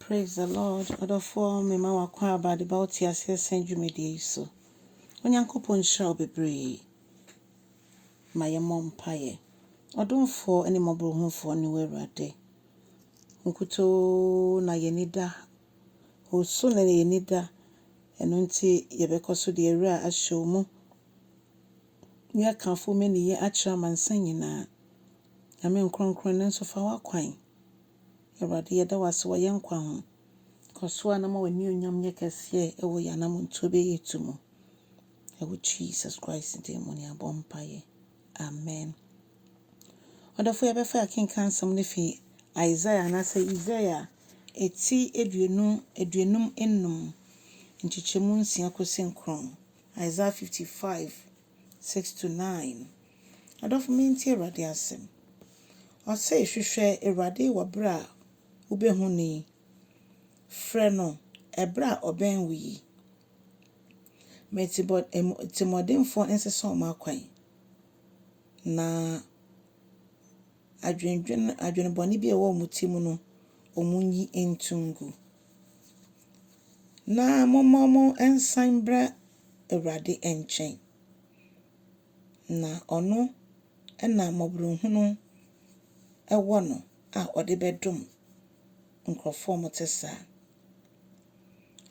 Praise the Lord ɔdɔfoɔ mema w'akwaaba de ba wo teaseɛ sɛn dwumadie yi so. Onyankopɔn nhyira wo bebree. Ma yɛ mmɔ mpaeɛ. Ɔdomfoɔ ne mmɔborɔhunufoɔ ne wo Awurade. Wo nkutoo na yɛn ani da. Wo so na yɛn ani da. Ɛno nti yɛbɛkɔ so deɛ awura ahyɛ wo mu. Ne akamfo mɛniyɛ akyerɛ amansan nyinaa. Nyame nkorɔnkorɔn ne nso fa w'akwan. Awurade, yɛda wo ase wɔ yɛn nkwa ho. Kɔ so ara na ma w'anuonyam nyɛ kɛseɛ wɔ yɛn anammɔntuo bɛyɛ etu mu. Ɛwɔ Jesus Christ din mu ne abɔ mpaeɛ. Amen. Ɔdɔfo yɛbɛfa yɛakenkan nsɛm no fi Isaiah anaasɛ Isaiah ɛti aduonu aduonum nnum nkyekyɛmu nsia kɔsi nkron. Isaiah 55 Six to nine, Adɔfo mentie Awurade asɛm, ɔse hwehwɛ Awurade wɔ berɛ a wobɛhu no yi, frɛ no ɛberɛ a ɔbɛn wo yi. Ma atirimuɔdenfoɔ nsesa wɔn akwan, na. adwendwen adwene bɔne bi a ɛwɔ wɔn ti mu no, wɔnyi nto ngu. Na momma wɔnsan mmra Awurade nkyɛn, na ɔno na mmɔborɔhunu wɔ no a ɔde bɛdom nkurɔfoɔ a wɔte saa.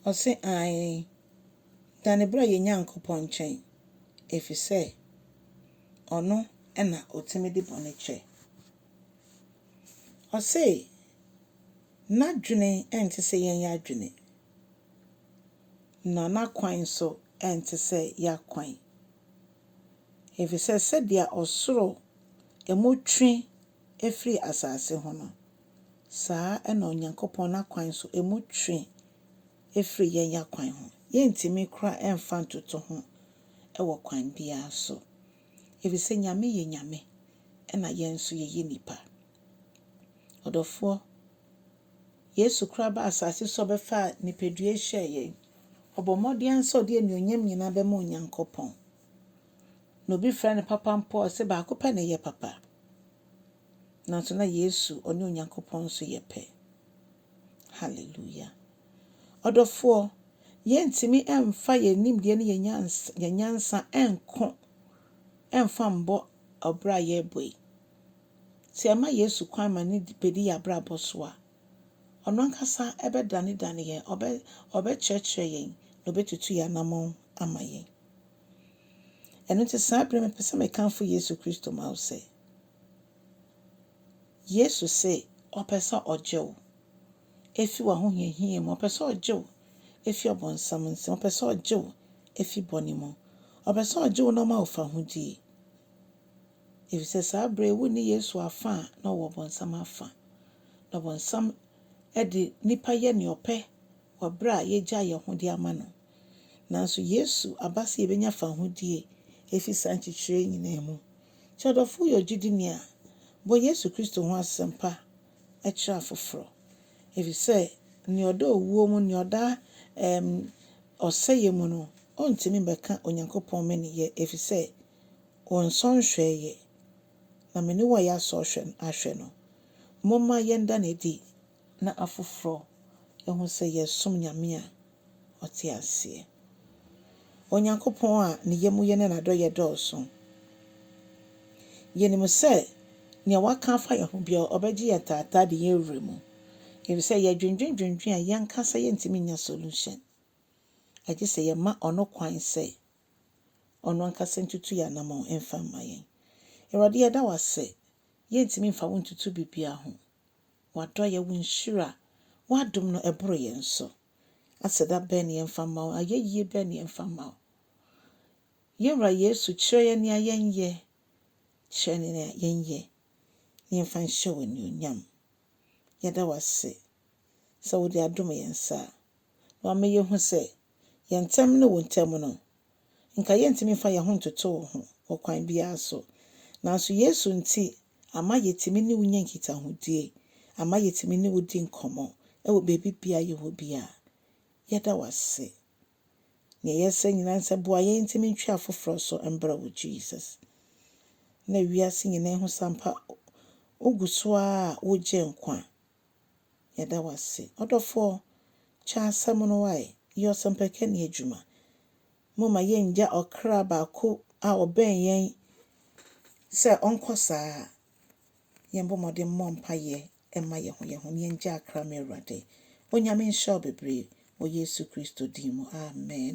Ɔse, aane, dane bra yɛn Nyankopɔn nkyɛn, ɛfiri sɛ. Ɔno na otumi de bɔne kyɛ. Ɔse n'adwene nte sɛ yɛn adwene, na n'akwan nso nte sɛ yɛn akwan, efisɛ sɛdeɛ ɔsoro mu twe firi asase ho no, saa na Onyankopɔn n'akwan nso mu twe afiri yɛn akwan ho. Yɛntumi koraa mfa ntoto ho wɔ kwan biara so, ɛfiri sɛ Nyame yɛ Nyame na yɛn nso yɛyɛ nnipa. Ɔdɔfoɔ, Yesu koraa baa asase so ɔbɛfaa nipadua hyɛɛ yɛn. Ɔbɔ mmɔden ara sɛ ɔde anuonyam nyinaa bɛma Onyankopɔn. Na obi frɛ no papa mpo a, ɔse baako pɛ na ɛyɛ papa. Nanso na Yesu, ɔne Onyankopɔn nso yɛ pɛ. Hallelujah! Ɔdɔfoɔ, yɛntumi mfa yɛn nimdeɛ ne yɛn nyansa nko mfa mbɔ ɔbra a yɛrebɔ yi. Sɛ yɛma Yesu kwan ma ne bɛdi yɛn abrabɔ so a, ɔno ankasa bɛdanedane yɛn, ɔbɛ, ɔbɛkyerɛkyerɛ yɛn, na ɔbɛtutu yɛn anamɔn ama yɛn. Ɛno nti saa bere mepɛ sɛ mekamfo Yesu Kristo ma wo sɛ, Yesu se ɔpɛ sɛ ɔgye wo fi w'ahohiahia mu, ɔpɛ sɛ ɔgye wo fi ɔbonsam nsam, ɔpɛ sɛ ɔgye wo fi bɔne mu, ɔpɛ sɛ ɔgye wo na ɔma wo fahodie. Efisɛ saa berɛ yi wonni Yesu afa a, na ɔwɔ ɔbonsam afa. Na ɔbonsam de nnipa yɛ nea ɔpɛ wɔ berɛ a yɛagyae yɛn ho de ama no. Nanso Yesu aba sɛ yɛbɛnya fahodie afi saa nkyekyerɛ yi nyinaa mu. Sɛ ɔdɔfo yɛ ogyidini a, bɔ Yesu Kristo ho asɛmpa kyerɛ afoforo, efisɛ nea ɔda owuo mu, nea ɔda ɛɛm, ɔsɛeɛ mu no, ɔntumi mmɛka Onyankopɔn mmeneyɛ, efisɛ ɔnsɔ nhwɛɛ yɛ, na mene wo a yɛasɔ ahwɛ ahwɛ no. Momma yɛnda no adi na afoforɔ ahu sɛ yɛresom Nyame a ɔte aseɛ, Onyankopɔn a ne yamuyɛ ne n'adɔeɛ dɔɔso. Yɛnim sɛ nea waka afa yɛn ho biara, ɔbɛgye yɛn taataa de yɛn awura mu, efisɛ yɛdwendwendwendwen a, yɛn ankasa yɛntumi nya solution, agye sɛ yɛma ɔno kwan sɛ ɔno ankasa ntutu yɛn anamɔn mfa mma yɛn. Awurade, yɛda wo ase, yɛntumi mfa wo ntutu biribiara ho. W'adɔeɛ, Wo nhyira, W'adom no ɛboro yɛn so. Aseda bɛn ne yɛmfa mma Wo? Ayɛyie bɛn ne yɛmfa mma Wo? Yɛn Wura Yesu, kyerɛ yɛn nea yɛnyɛ, kyerɛ yɛn nea yɛnyɛ na yɛmfa nhyɛ Wo anuonyam. Yɛda Wo ase sɛ Wode adom yɛn saa na Wama yɛhu sɛ yɛn ntam ne wo ntam no, anka yɛrentumi mfa yɛn ho ntoto wo ho wɔ kwan biara so. Nanso Yesu nti, ama yɛatumi ne wo nya nkitahodie, ama yɛatumi ne wo di nkɔmmɔ wɔ baabi biara yɛwɔ biara. Yɛda wo ase. Nea yɛsrɛ nyinaa ne sɛ boa yɛn ntumi ntwe afoforɔ so mbrɛ wo, Jesus. Na wiase nyinaa hu sɛ ampa wogu so ara a wogye nkwa Yɛda wo ase. Ɔdɔfoɔ, kyɛ asɛm no wae, yɛ ɔsɛmpakani adwuma. Momma yɛnngya ɔkra baako a ɔbɛn yɛn sɛ ɔnkɔ saa. Yɛmbɔ mmɔden mmɔ mpaeɛ mma yɛn ho yɛn ho na yɛngyaa kra ma Awurade. Onyame nhyira wo bebree wɔ Yesu Kristo din mu, amen.